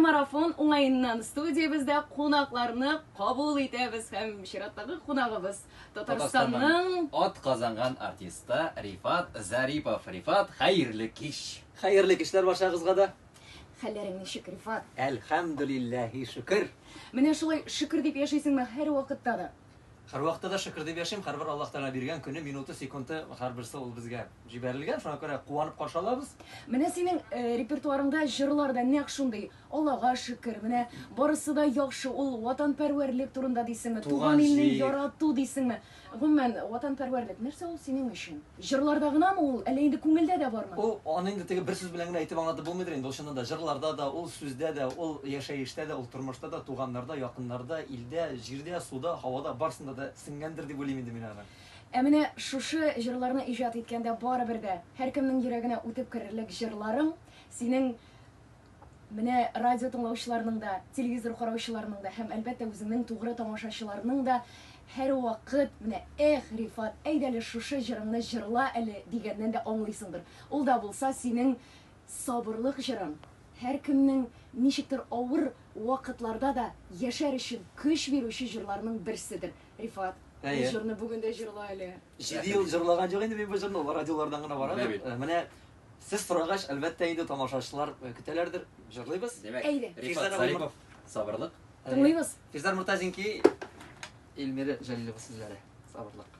Марафон уңаеннан студиябездә кунакларны кабул итәбез һәм чираттагы кунагыбыз Татарстанның атказанган артисты Рифат Зарипов. Рифат, хәерле кич! Хәерле кичләр барчагызга да! Хәлләрең ничек, Рифат? Әлхәмдүлилләһи шөкер! Менә шулай шөкер дип яшисеңме һәрвакытта да? Һәрвакытта да шөкер дип яшим, һәрбер Аллаһ Тәгалә биргән көне, минуты, секунды, һәрберсе ул безгә җибәрелгән, шуңа күрә куанып каршы алабыз. Менә синең репертуарыңда җырлар да нәкъ шундый, Аллага шөкер, менә барысы да яхшы, ул ватанпәрвәрлек турында дисеңме, туган илне ярату дисеңме? Гомумән, ватанпәрвәрлек нәрсә ул синең өчен? Җырларда гынамы ул, әллә инде күңелдә дә бармы? Ул, аны инде теге бер сүз белән генә әйтеп аңлатып булмыйдыр инде, ул чыннан да җырларда да, ул сүздә дә, ул яшәештә дә, ул тормышта да, туганнарда, якыннарда, илдә, җирдә, суда, һавада, барсында да сеңгәндер дип уйлыйм инде мин аны. Ә менә шушы җырларны иҗат иткәндә барыбер дә һәркемнең йөрәгенә үтеп керерлек җырларың, синең. Менә радио тыңлаучыларның да, телевизор караучыларның да һәм, әлбәттә, үзеңнең тугры тамашачыларның да һәрвакыт менә Эх, Рифат, әйдә әле шушы җырыңны җырла әле дигәннән дә аңлыйсыңдыр. Ул да булса синең сабырлык җырың, һәркемнең ничектер авыр вакытларда да яшәр өчен көч бирүче җырларның берседер. Рифат, бу Әйе. җырны бүген дә җырла әле. Җиде ел җырлаган юк инде мин бу җырны, ул радиолардан гына бара. Менә бит. Менә Сез сорагач, әлбәттә инде тамашачылар көтәләрдер. Җырлыйбыз. Димәк, Әйдә. Рифат Физара Зарипов, сабырлык. Тыңлыйбыз. Физар Муртазинки, Эльмира Җәлилова сүзләре. Сабырлык.